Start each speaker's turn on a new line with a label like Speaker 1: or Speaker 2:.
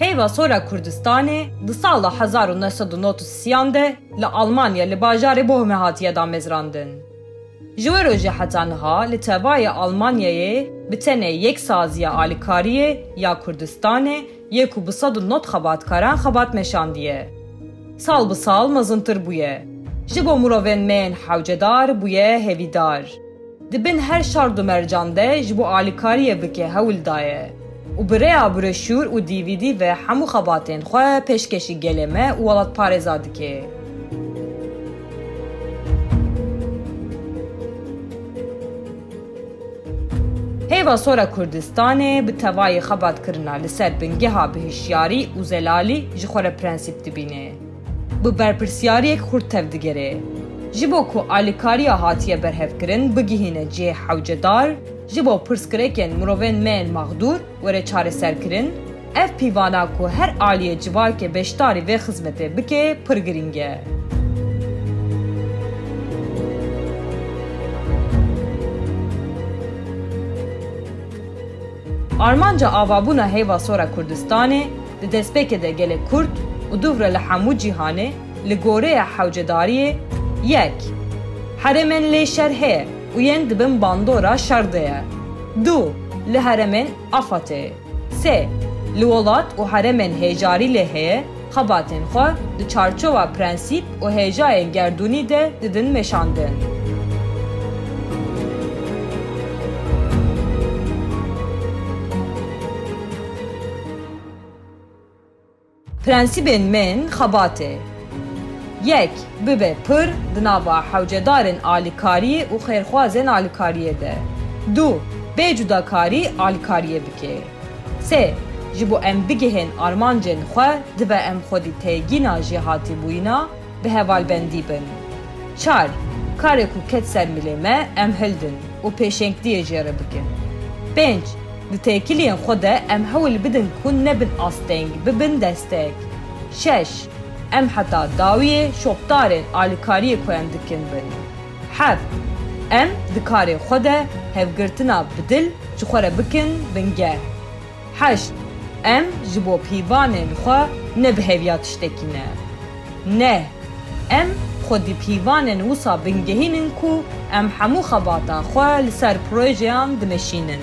Speaker 1: Heyva sora Kurdistanê di sala hezar û neh sed û nod û sîyan de li Almanya li bajarê Bohme hatiye damezrandin. Ji we rojê heta niha li tevayê Almanyayê bi tenê yek saziya alîkariyê ya Kurdistanê Yê ku bi sed û nod xebatkaran xebat meşandiye. Sal bi sal mezintir bûye. Ji bo mirovên me yên hewcedar bûye hêvîdar. Di bin her şard û mercan de ji bo alîkariyê bike hewl daye û bi rêya broşûr û DVD ve hemû xebatên xwe pêşkêşî gelê me û welatparêza dike. Hêva Sora Kurdistanê bi tevayî xebatkirina li ser bingeha bi hişyarî û zelalî ji xwe re prensîp dibîne. Bi berpirsyariyek xurt tev digere. Ji bo ku alîkariya hatiye berhevkirin bigihîne cihê hewcedar, ji bo pirsgirêkên mirovên me ên maxdûr, were çareserkirin, ev pîvana ku her aliyê civakê beşdarî vê xizmetê bike pir girîng e. Armanca avabûna heyva sor a Kurdistanê di destpêkê de gelê Kurd û dûvre li hemû cîhanê, Li goreya hewcedariyê yek, herêmên lê şer heye û yên di bin bandora şer de ye. Du, li herêmên AFAD'ê. Sê, li welat û herêmên hêjarî lê heye xebatên xwe di çarçowa prensîp û hêjayên gerdûnî de didin meşandin. Prensîbên mêin xebatê. Yek, bibe pir di nava hewcedarên alîkariyê û xêrxwazên alîkariyê de. Du, bê cudakarî alîkariyê bikê. Sê, ji bo em bigihên armancên xwe dibe em xwedî têgîna jêhatîbûyîna, bi hevalbendî bin. Çar, Karê ku ket ser milê me em hildin û pêşengdiyê jê re bikin. Pênc, Di têkiliyên xwe de em hewl bidin ku nebin asteng, bibin destek. Şeş, Em heta dawiyê şopdarên alikariyê ku em dikin bin. Heft, Em di karê xwe de hevgirtina bi dil ji xwe re bikin bingeh. Heşt, Em ji bo pîvanên xwe ne bi hêviya tiştekî ne. Neh, Em xwe di pîvanên wisa bingehînin ku em hemû xebata xwe li ser projeyan dimeşînin.